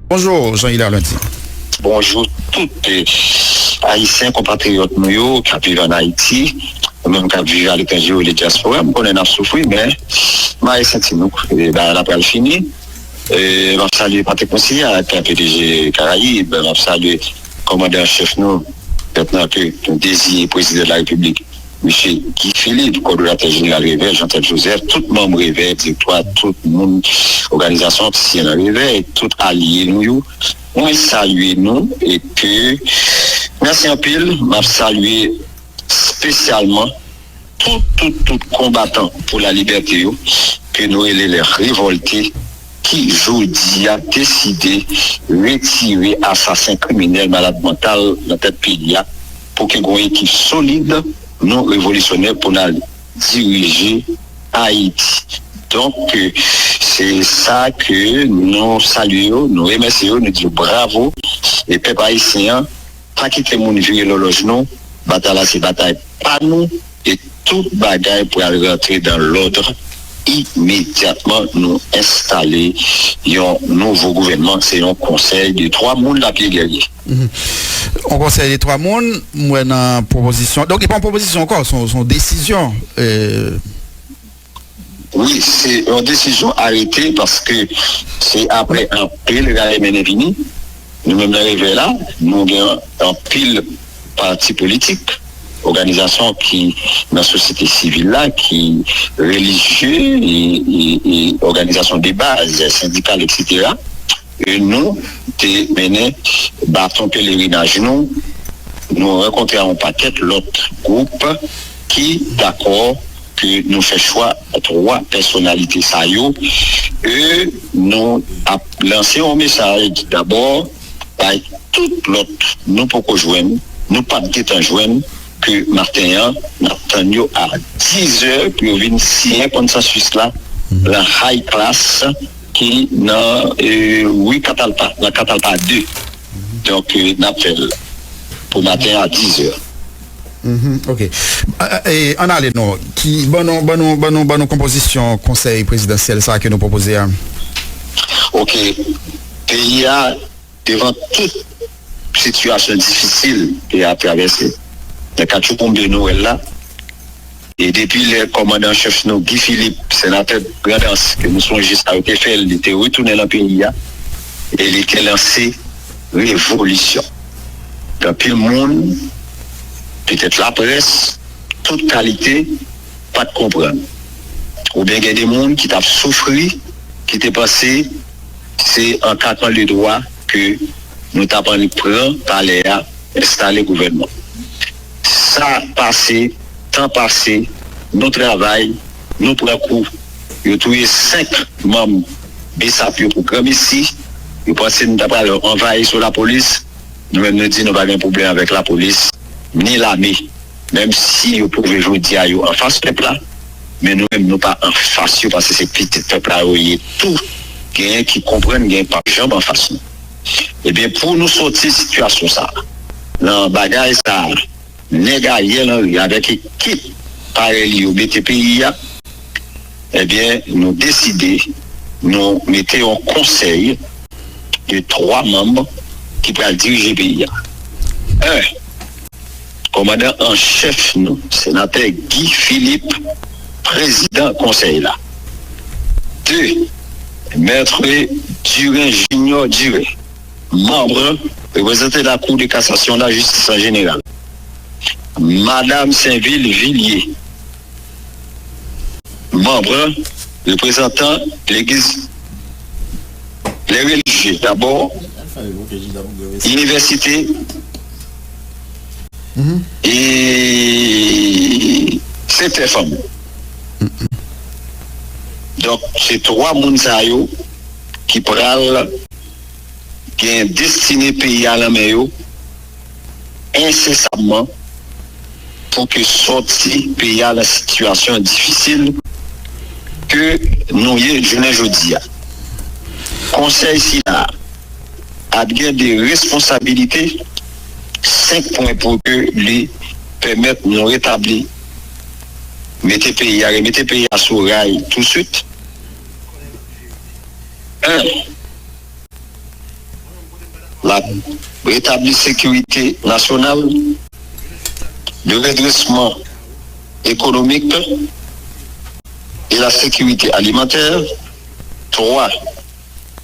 Bonjour Jean Hilaire Lundi. Bonjou tout ayisyen konpatriyòt nou yo k ap viv ann Ayiti ou menm k ap viv aletranje rele dyaspora m konnen n ap soufri men mare senti nou bagay la pral fini m ap salye pati konsiye ak pdg karayib m ap salye Kòmandan an chèf nou, Lyetnan ke nou deziye Prezidan la Repiblik, Misye Guy Philippe, Kòdonatè Jeneral Revèy, Jean Thèbe Joseph, tout manm Revèy, Direktwa, tout moun Oganizasyon ki siyen nan Revèy, tout alye nou yo, mwen salye nou e ke mèsi anpil, map salye. spesyalman tout tout tout konbatan pou la libète yo ke nou rele les revolte ki jodi a deside retire asasen kriminèl malad mantal nan tèt peyi a pou ke gon ekip solid nou revolisyonè pou nal dirije Ayiti donk ke se sa ke nou salye yo nou remèsye yo nou di yo bravo e pèp ayisyen an Pa kite moun vire lòlòj nou, batay la se batay pa nou e tout bagay pral rantre dan lòd imedyatman nou enstale yon nouvo gouvènman, se yon konsèy de 3 moun lap ye Guerrier. Yon konsèy de 3 moun, m wè nan pwopozisyon, donk li pa yon pwopozisyon ankò, se yon desizyon. Wi se yon desizyon arete paske se apre anpil rale mennen vini nou menm nan revèy la nou gen anpil pati politik oganizasyon ki nan sosyete sivil la ki relijye e oganizasyon de baz sendikal eksetera e nou te mennen baton pelerinaj nou nou rankontre a yon pakèt lòt gwoup ki dakò ke nou fè chwa 3 pèsonalite sa yo e nou ap lanse yon mesaj dabò bay tout lòt nou poko jwenn, nou pat gentan jwenn ke maten an n ap tann yo a 10 zè pou yo vin siyen konsansis la lan High Class ki nan Rue Catalpa, nan Catalpa 2. Donk n ap fè l pou maten an a 10 zè. Ok. Ann ale non. Ki, ban nou, ban nou, ban nou, ban nou konpozisyon Konsèy Prezidansyèl sa a ke nou pwopoze a. Ok. Peyi a, devan tout sitiyasyon difisil peyi a ap travèse, nan katchouboumbe nou wè l la, E depi lè kòmandan an chèf nou Guy Philippe, senatè Grandans, ke nou sonje sa yo te fè l, li te retounen lan peyi a e li te lanse revolisyon. Anpil moun, petèt laprès, tout kalite, pa t konprann. Oubyen gen de moun ki t ap soufri, ki te panse se an kakan de dwa ke nou t ap annik pran palè a, enstale gouvènman. Sa pase, tan pase, nou travay, nou pran kou. Yo touye 5 manm bsap yo pou granmesi. Yo panse nou ta pral anvayi sou lapolis. Nou menm nou di nou pa gen pwoblèm avèk lapolis, ni lame. Menm si yo pwouve jodi a yo anfas pèp la, men nou menm nou pa anfas yo paske se pitit pèp la yo ye tou. Genyen ki konprann, genyen k pap janm anfas nou. Ebyen pou nou soti sitiyasyon sa nan bagay sa nèg Ariel Henry avèk ekip parèy li yo mete peyi a ebyen nou deside nou mete yon konsèy de 3 manm ki pral dirije peyi a 1. Komandan an chèf nou, Senatè Guy Philippe, Prezidan Konsèy la. Ii. Maitre Durin Junior Durin, Manm, reprezante la Kou de Kasasyon la Jistis an jeneral. Madam Sainville Villiers, Manm, reprezantan Legliz lè relijye dabò, Inivèsite. e se tè fanm ou donk se 3 moun sa yo ki pral gen destine peyi a lan men yo ensesamman pou ke sòti peyi a lan sitiyasyon difisil ke nou ye jounen jodi a konsèy sila a. ap gen de responsabilite 5 pwen pou ke li pèmèt nou retabli mete peyi a remete peyi a sou ray tou swit 1 la retabli sekirite nasyonal 2 redresman ekonomik e la sekirite alimantè 3.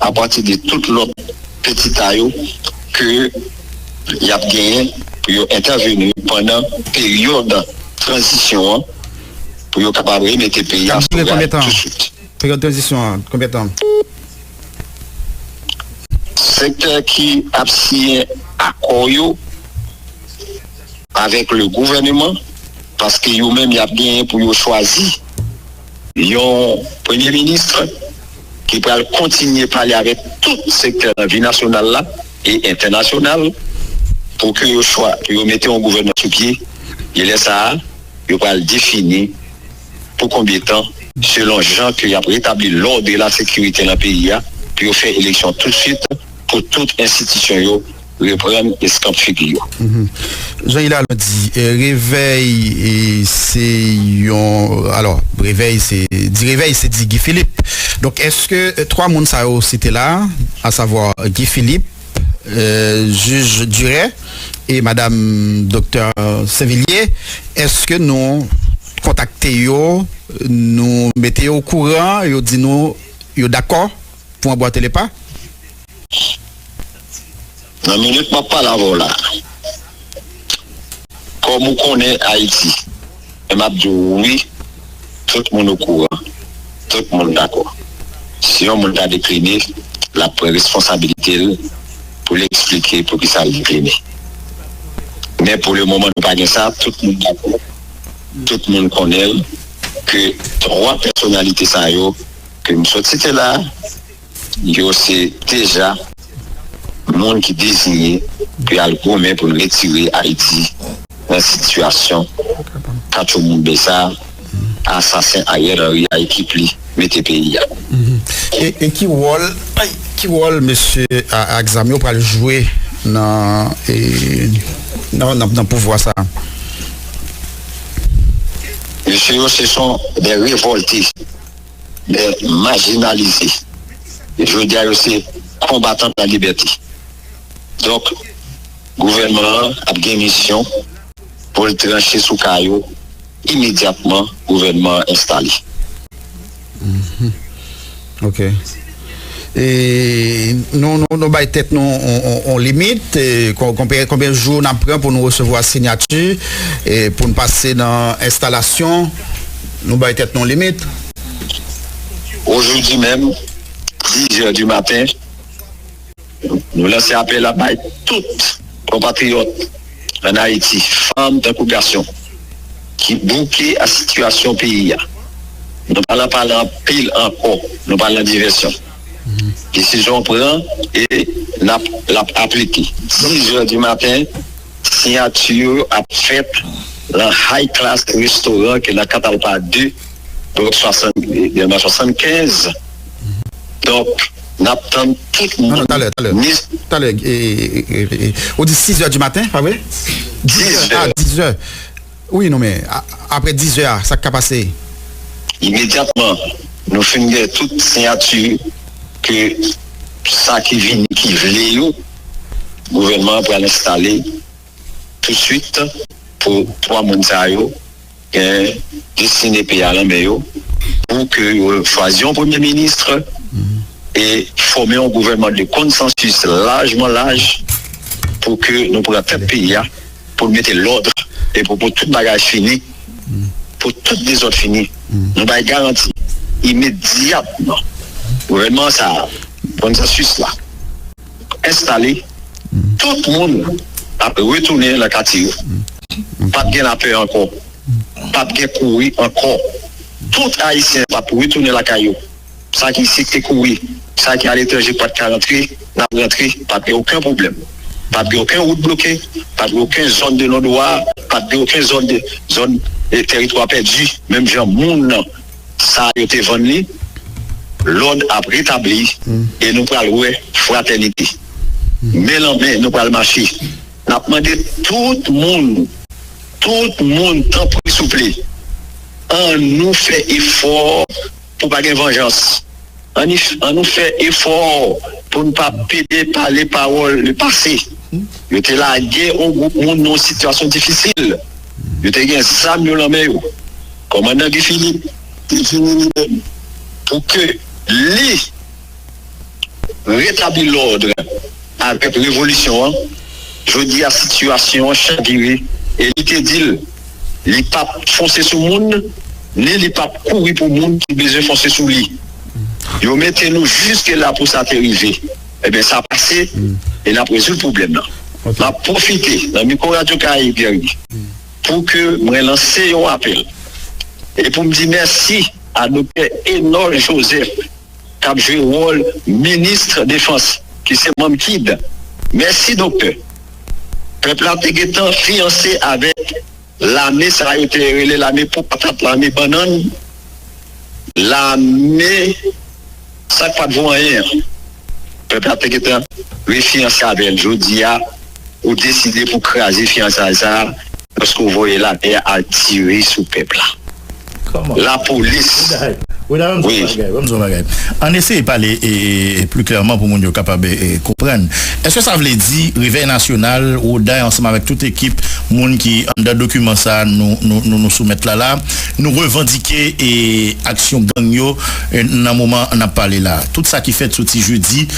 A pati de tout lòt petita yo ke y ap genyen pou yo entèveni pandan peryòd tranzisyon an pou yo kapab remete peyi a sou ray tousuit. Peryòd tranzisyon an konbyen tan? Sektè ki ap siyen akò yo avèk le gouvèneman paske yo menm y ap genyen pou yo chwazi. Yon premye ministre ki pral kontinye pale avèk tout sektè nan vi nasyonal la e entènasyonal pou ke yo chwa pou yo mete yon gouvènman sou pye e lè sa a yo pral defini pou konbyen tan, selon jan ke y ap retabli lòd e lasekirite nan peyi a, pou yo fè eleksyon toutsuit pou tout enstitisyon yo Reprann eskanp figi yo. Jan Ilalò di, revèy se yon, alò, revèy se, di revèy se di Guy Philippe. Donk, èske 3 moun sa yo site la a, asavwa Guy Philippe, jij Durè e madam doktè Sinvilye, èske nou kontakte yo, nou mete yo okouran, yo di nou yo dakò pou anbwate lepa? Nan minit map pale avèw la kòm ou konnen Ayiti men map diw wi tout moun okouran tout moun dakò si yon moun ta dekline lap pran responsabilitel poul eksplike poukisal dekline men pou le moman nou pa gen sa tout moun dakò tout moun konnenl ke 3 pèsonalite sa yo kem sot site la. Yo se deja moun ki dezinye pou y al goumen pou retire Ayiti nan sitiyasyon katchouboumbe sa a asasen Ariel Henry a ekip li mete peyi a. E ki wòl ki wòl mesye ak zam yo pral jwe nan pouvwa sa a? Mesye yo se son dè revòlte. men majinalize. Jodi a yo se konbatan pou la libète. Donk, gouvènman an ap gen misyon pou l tranche sou ka yo imedyatman gouvènman an enstale. Ok. Nou bay tèt nou yon limit, konbyen jou n ap pran pou nou resevwa sinyati, pou n pase nan enstalasyon, nou bay tèt nou yon limit. Ojoudi menm, 10 zè di maten. Nou lanse apèl la bay tout konpatriyòt ann Ayiti, fanm tankou gason, ki bouke ak sitiyasyon peyi a. Nou pa lan pale anpil ankò, nou pa lan divèsyon. Desizyon pran e n ap l ap aplike. 10 zè di maten, siyati yo ap fèt lan High Class Restaurant ki lan Katalpa 2, Blòk 75. Donk. Nap tann tout moun. Non, non, talè, talè. Talè, ou di 6 zè di maten, pa vre? 10 zè. Ah, 10 zè. Wi, non men, apre 10 zè a, sa k ka pase? Imedyatman, nou fin gen tout siyati ke sa ki vini ki vle yo, gouvènman an pral enstale tousuit pou 3 moun sa yo. Gen destine peyi a lan men yo pou ke yo chwazi yon premye ministre e fome yon gouvènman de konsansis lajman laj pou ke nou pran tèt peyi a pou nou mete lòd e pou pou tout bagay fini, pou tout dezòd fini. Nou bay garanti imedyatman gouvènman sa a konsansis la. enstale, tout moun ap retounen nan katye yo. Pa p gen lapè ankò, pa p gen kouri ankò. Tout Ayisyen ap retounen lakay yo. Sa ki isit te kouri, sa ki aletranje pa t ka rantre, n ap rantre. Pa p gen oken pwoblèm. Pa p gen oken wout bloke, pa p gen oken zòn de non dwa, pa p gen oken zòn de zòn de tèritwa pèdi menm jan moun nan. sa yo te vann li, lòd ap retabli e nou pral wè fratènite. Men lan men nou pral mache. N ap mande tout moun, tout moun tanpri souple, annou fè efò pou pa gen vanjans. An nou fè efò pou n pa pede pale pawòl le pase. Yo te lage yon gwoup moun nan yon sitiyasyon difisil. Yo te gen zam yo lan men yo. Kòmandan Guy Philippe te vini li menm pou ke li retabli lòd avèk revolisyon an. Jodi a sitiyasyon an chavire e li te di l. Li p ap fonse sou moun, ni li p ap kouri pou moun ki bezwen fonse sou li. Yo mete nou jiske la pou sa te rive. Enben, sa pase e n ap rezoud pwoblèm nan. M ap pwofite nan mikwo Radyo Karayib Jeremi pou ke mwen lanse yon apèl e pou m di mèsi a Doktè Enol Joseph, k ap jwe wòl ministre defans ki se manm kid mèsi doktè pèp la te gentan fiyanse avèk lame sa yo te rele lame po patat lame bannann lame sa k pat vo anyen an pèp la te gentan refiyanse avèl jodi a. Ou deside pou kraze fiyansay sa a paske ou voye lapè a tire sou pèp la. Lapolis, wi. Ann eseye pale pli klèman pou moun yo kapab konprann. Eske sa vle di Revèy Nasyonal, Roday ansanm avèk tout ekip moun ki anndan dokiman sa a nou soumèt la la a, nou revandike aksyon gang yo nan moman n ap pale la a? Tout sa ki fèt soti jedi.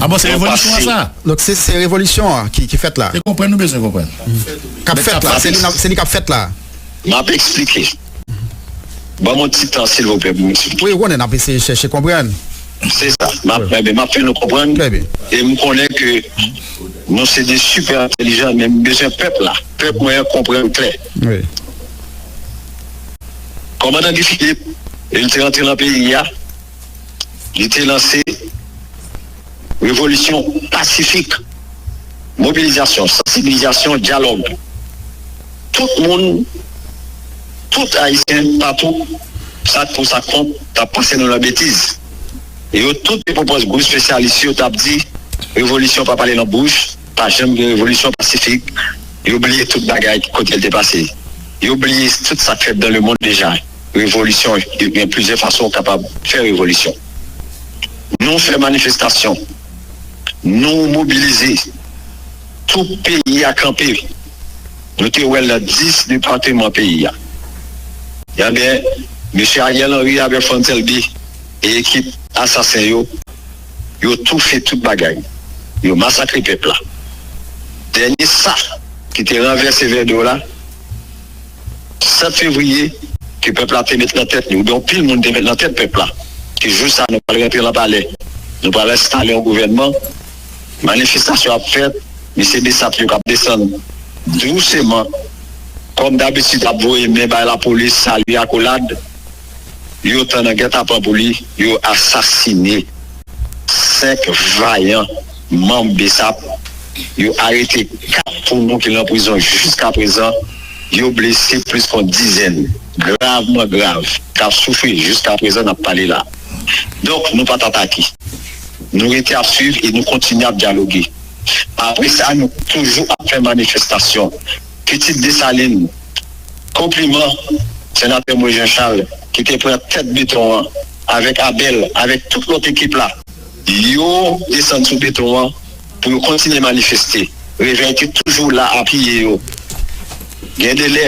Ah bon se revolisyon an sa? Donk se se revolisyon an ki fèt la? Se konprann nou bezwen konprann. Kap fèt la, se li kap fèt la? Map eksplike. Banm yon ti tan silvouplè pou m eksplike. Wi ou konnen nap eseye chèche konprann. Se sa, map fè nou konprann e m konnen ke nou se de sipè entelijan men m bezwen pèp la, pèp mwen an konprann klè. Kòmandan Guy Philippe, lè l te rantre nan peyi a. Li te lanse revolisyon pasifik, mobilizasyon, sansibilizasyon, dyalòg. Tout moun, tout Ayisyen patou, sa k pou sa k kont, t ap pase nou nan betiz. E yo tout te pwopòz gwo espesyalis yo t ap di revolisyon pa pale nan bouch, pa janm gen revolisyon pasifik. Yo bliye tout bagay kote l te pase. Yo bliye tout sa k fèt dan lemonn deja. revolisyon e gen plizyè fason ou kapab fè revolisyon. Nou fè manifestasyon, nou mobilize, tout peyi a kanpe. Nou te wè l nan 10 depateman peyi a. Enben, mesye Ariel Henry avèk Frantz Elbe e ekip asasen yo, yo toufe tout bagay, yo masakre pèp la. Dènye sa ki te ranvèse Vèdew la, 7 fevriye ke pèp la te met nan tèt li oubyen yon pil moun te met nan tèt pèp la ke jou sa nou pral rantre lan palè nou pral enstale yon gouvènman manifestasyon ap fèt mesye besap yo kap desann douseman kòm dabitid ap voye men bay lapolis salye akolad. yo tan nan gètapan pou li yo asasine 5 vayan manm bsap, yo arete 4 pou nou ki lan prizon jiskaprezan, yo blese plis kon dizèn gravman grav k ap soufri jiskaprezan n ap pale la. Donk nou pa t atake. Nou rete ap swiv e nou kontinye ap dyaloge. Apre sa nou toujou ap fè manifestasyon. pitit Desalin. Konpliman, Senatè Moïse Jean Charles ki te pran tèt beton an avèk Abel, avèk tout lòt ekip la. Yo desann sou beton an pou yo kontinye manifeste. Revèy te toujou la apiye yo. Gen de lè,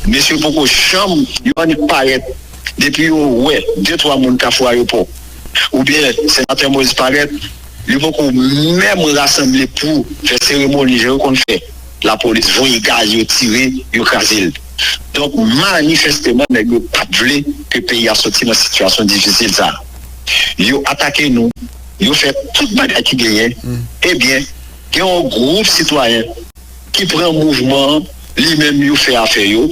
mesye poko janm. Yo annik parèt depi yo wè de twa moun Kafou Ayopò. Oubyen Senatè Moïse parèt, yo poko menm rasanble pou fè seremoni jan yo konn fè. lapolis voye gaz yo tire yo kraze l donk manifesteman nèg yo pat vle ke peyi a soti nan sitiyasyon difisil sa yo atake nou yo fè tout bagay ki genyen ebyen gen yon gwoup sitwayen ki pran mouvman an li menm yo fè afè yo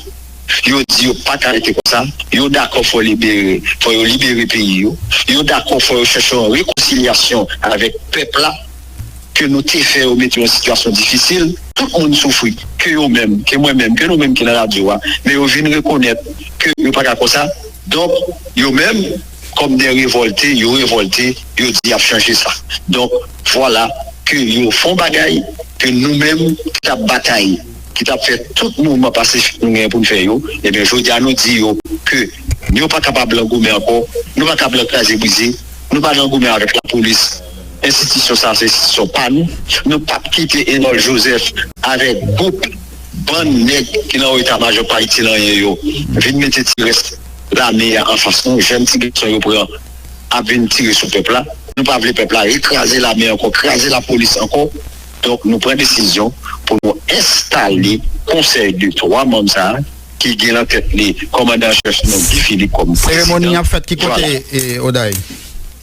yo di yo paka rete konsa yo dakò fò libere fò yo libere peyi yo yo dakò fò yo chèche yon rekonsilyasyon avèk pèp la. ke nou te fè yo mete yo nan sitiyasyon difisil. Tout moun soufri, ke yo menm, ke mwen menm, ke nou menm ki nan radyo a, men yo vin rekonèt ke yo pa ka konsa, donk yo menm kòm dè revòlte, yo revòlte, yo di y ap chanje sa. Donk, vwala ke yo fon bagay ke nou menm ki t ap batay, ki t ap fè tout mouvman pasifik nou genyen pou n fè yo, ebyen jodi a nou di yo ke yo pa kapab lan goumen ankò, nou pa kab lan kraze brize, nou pa lan goumen avèk lapolis. Enstitisyon sa a se enstitisyon pa nou. Nou p ap kite Enol Jozèf avèk gwoup bann nèg ki nan wo eta majò pa itil anyen yo vin mete ti rès lame a anfas nou. Jèn ti gason yo pran ap vin tire sou pèp la. Nou pa vle pèp la rekraze lame ankò, kraze lapolis ankò. Donk nou pran desizyon pou nou enstale konsèy de 3 manm sa a ki gen nan tèt li kòmandan an chèf nou Guy Philippe kòm prezidan. Seremoni an ap fèt ki kote, Oday?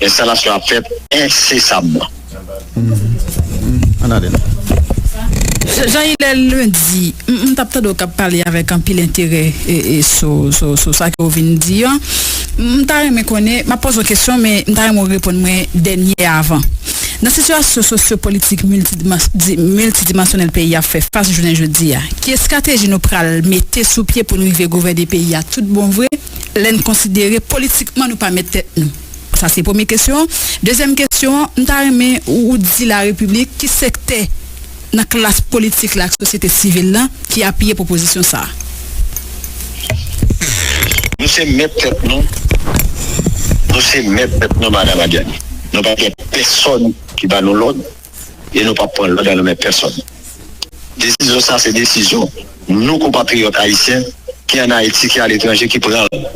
Enstalasyon ap fèt ensesamman. Jean Hilaire Lundi, m t ap tande w k ap pale avèk anpil enterè sou sa ke w vin n di an. M ta renmen konnen, m ap poze w kesyon men m ta renmen w reponn mwen dènye a avan. Nan sitiyasyon sosyopolitik miltidimansyonèl peyi a fè fas jounen jodi a, ki estrateji nou pral mete sou pye pou n rive gouvène peyi a tout bon vre? lè n konsidere politikman nou pa mèt tèt nou? Sa se premye kesyon an. Dezyèm kesyon an, m ta renmen ou di larepiblik ki sektè nan klas politik la ak sosyete sivil la ki apiye pwopozisyon sa a. Nou se mèt tèt nou, nou se mèt tèt nou Madam Adyani. Nou pa gen pèsòn ki ba nou lòd. e nou pap pran lòd nan men pèsòn. Desizyon sa se desizyon nou konpatriyòt ayisyen ki an Ayiti ki aletranje ki pran l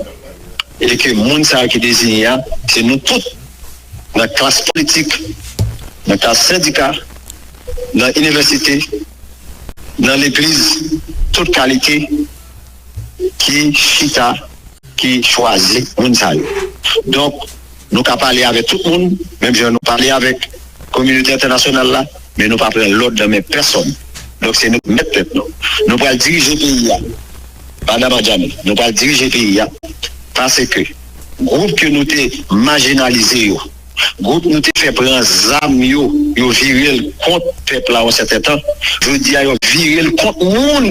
e ke moun sa yo ki deziyen a se nou tout nan klas politik, nan klas sendika, nan inivèsite, nan legliz tout kalite ki chita, ki chwazi moun sa yo. Donk. Nou ka pale avèk tout moun, menm jan nou pale avèk kominote entènasyonal la, men nou pa pran lòd nan men pèsòn. Donk se nou ki mèt tèt nou. Nou pral dirije peyi a, Madam Adjani, nou pral dirije peyi a paske gwoup ke nou te majinalize yo, gwoup nou te fè pran zam yo, yo vire l kont pèp la yon sèten tan, jodi a yo vire l kont moun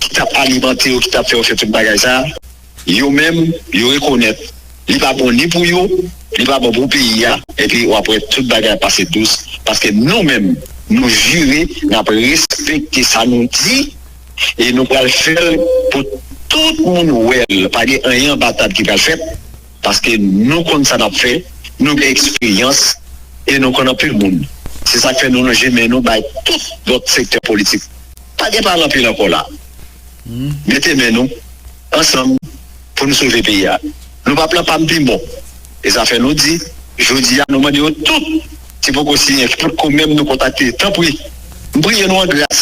ki t ap alimante yo, ki t ap fè yo fè tout bagay sa a. Yo menm, yo rekonèt li pa bon ni pou yo, li pa bon pou peyi a, epi wap wè tout bagay ap pase dous, paske nou menm nou jire nap respekte sa nou di e nou pral fèl pou tout moun wèl, pa gen anyen anba tab ki pral fèt, paske nou konn sa nap fè, nou gen eksperyans e nou konn anpil moun, se sak fè nou lonje men nou bay tout lòt sektè politik, pa gen pale anpil ankò la. mete men nou ansanm pou nou sove peyi a nou pap lan pam pi bon e sa fè nou di jodi a nou mande yo tout ki poko siyen ki potko menm nou kontakte tanpri m priye nou an gras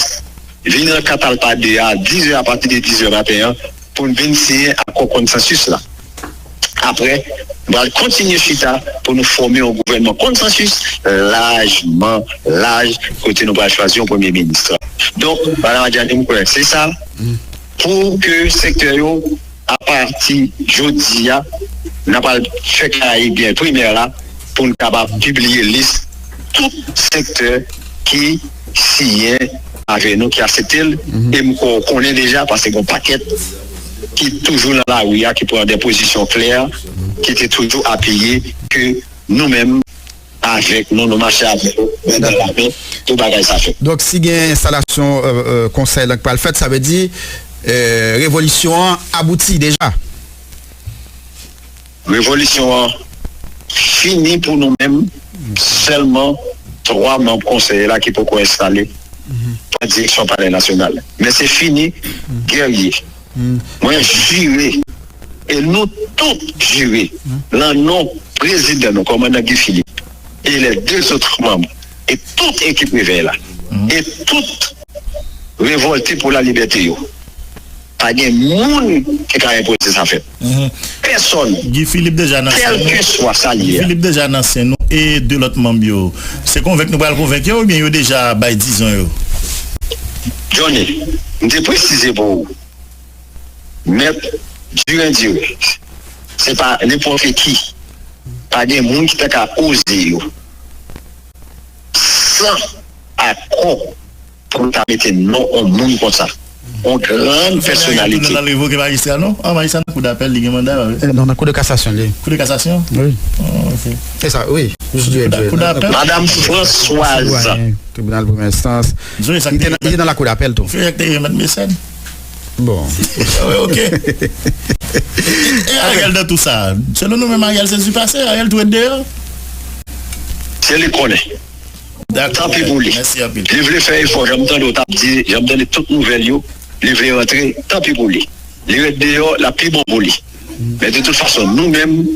vin lan katalpa 2 a 10 è apati de 10 è maten an pou nou vin siyen akò konsansis la. apre nou pral kontinye chita pou nou fòme yon gouvènman konsansis lajman laj kote nou pral chwazi yon premye minis. Donk, Madam Adjani, m kwè se sa pou ke sektè yo apati jodi a nan pral fè Karayib gen primè la pou n kapab pibliye lis tout sektè ki siyen avè nou, ki asepte l e m kwè ou konnen deja paske gen yon pakèt. ki toujou nan lari ya ki pran de pozisyon klè ki te toujou apiye ke nou menm avèk nou nou mache avèk nou men nan la men pou bagay sa fèt. Donk si gen enstalasyon konsèy lan ki pral fèt sa vle di revolisyon an abouti deja? Revolisyon an fini pou nou menm sèlman 3 manb konsèy la ki poko enstale pran direksyon palè nasyonal men se fini Guerrier mwen jire e nou tout jire lan non prezidan nou kòmandan Guy Philippe e lè 2 zotre manb e tout ekip revèy la e tout revòlte pou la libète yo. Pa gen moun ki ka enpoze sa fèt. Pèsòn. Guy Philippe deja nan sen nou. Kèlkeswa sa l ye a. Guy Philippe deja nan sen nou e 2 lòt manm yo. Se konvenk nou pral konvenk yo oubyen yo deja bay dizon yo? Johnny, M te presize pou ou. Mèt Durandurè, se pa nenpòte ki. Pa gen moun ki ta ka poze yo san akò. Pou nou ta mete non on moun konsa. On grand pèsonalite. Non nan kou de kasasyon li. Kou de kasasyon? Wi. Se sa wi. Madam Françoise. Tribinal premyè enstans. Li te nan la kou dapèl tou. Bon. Ok. E Ariel nan tou sa. Selon nou menm Ariel se zipase. Ariel tou ret deyò. Se li konnen. Dak tanpri pou li. Li vle fè efò janm tande w tap di janm tande tout nouvèl yo li vle rantre tanpri pou li li ret deyò lap pi bon pou li men de tout fason nou menm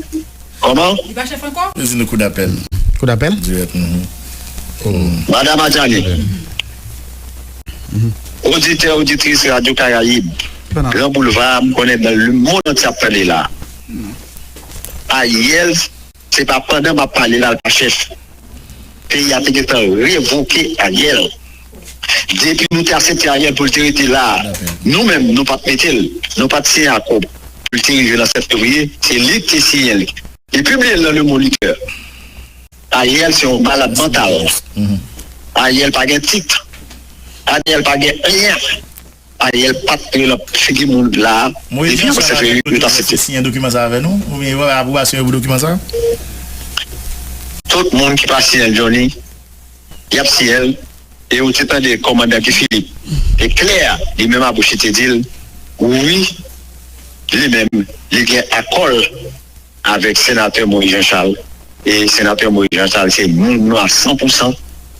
kòman. Madam Adjani, oditè oditris radyo karayib gran boulva a m konnen nan lemonn antye ap tande la Ariel. Se pa pandan map pale la l pa chèf. Peyi a te gentan revoke Ariel. Depi nou te asepte Ariel pou l te rete la a, nou menm nou pat mete l, nou pat siyen akò pou l te rive nan 7 fevriye, se li k te siyen li. Li pibliye l nan Le Moniteur. Ariel se yon malad mantal. Ariel pa gen tit. Ariel pa gen anyen. Ariel pap rele nan figi moun la a depi yo se vre yo ta site. Tout moun ki pa siyèl Johnny yap siyèl e ou te tande komandan Guy Philippe te klè li menm a bouch li te dil wi li menm li gen akòl. avèk senatè Moïse Jean Charles e senatè Moïse Jean Charles se moun nou a san pou san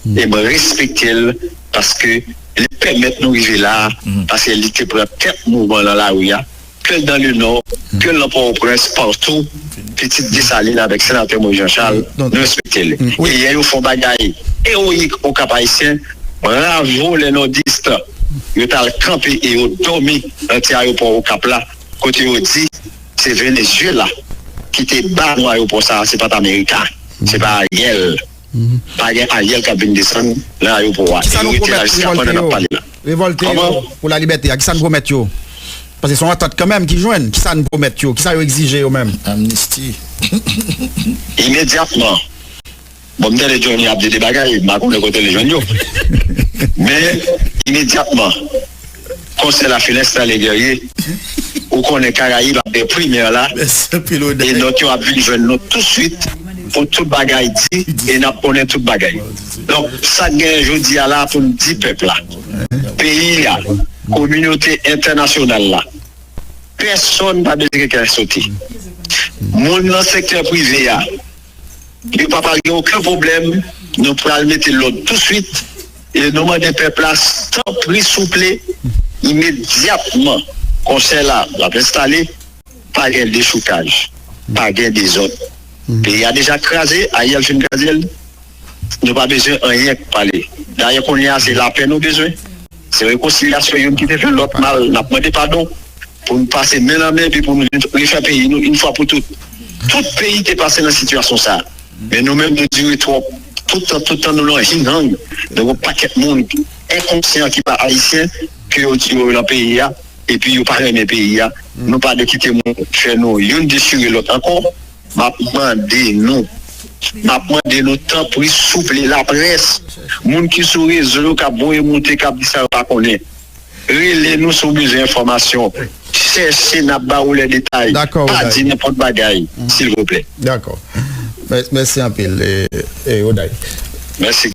e mwen respekte l paske li pèmèt nou rive la a paske li te pran tèt mouvman nan lari a ke l dan le nò ke l nan pòwoprens patou pitit Dessalines avèk senatè Moïse Jean Charles nou respekte l e yè yo fè yon bagay eroyik o kap ayisyen bravo les nordistes yo t al kanpe e yo dòmi nan ti ayopò okap la kote yo di. Se Venezuela ki te ba nou ayopò sa a se pat America se pa Ariel pa gen Ariel kap vin desann nan ayopò a e nou rete la jiska pandan nap pale la Revolte yo pou la libète a kisa n pwomèt yo paske son antant kanmèm ki jwenn kisa n pwomèt yo kisa yo egzije yo menm Amnisti Imedyatman. Bon m tande Johnny ap di de bagay m pa konnen kote li jwenn yo men imedyatman konsè la fin enstale Guerrier ou konnen Karayib ap gen primè la e nòt yo ap vin jwenn nou touswit pou tout bagay di e n ap konnen tout bagay donk sa k genyen jodi a la pou n di pèp la peyi a kominote entènasyonal la pèsonn pa bezwen gen kè sote moun nan sektè prive a. Yo pa pale oken pwoblèm nou pral mete lòd tou swit e nou mande pèp la tanpri souple imedyatman konsèy la ap enstale pa gen dechoukaj pa gen dezòd peyi a deja kraze Ariel fin krazel nou pa bezwen anyen pale dayè kounya se lapè nou bezwen. Se rekonsilyasyon youn ki te fè lòt mal n ap mande padon, pou n pase men nan men epi pou n refè peyi nou youn fwa pou tout. Tout peyi te pase nan sitiyasyon sa a, men nou menm nou dire twòp. Tout tan tout tan nou lan hing hang nan yon pakèt moun enkonsyan ki pa Ayisyen ke yo di yo lan peyi a epi yo pa renmen peyi a. Nou pa de kite moun fè nou youn dechire lòt ankò. Map mande nou Map mande nou tanpri souple la près moun ki sou rezo yo kap voye moute kap di sa yo pa konnen rele nou si w bezwen enfòmasyon chèche nap ba ou lè detay pa di nenpòt bagay silvouplè. Dakò mèsi anpil Oday. Mèsi.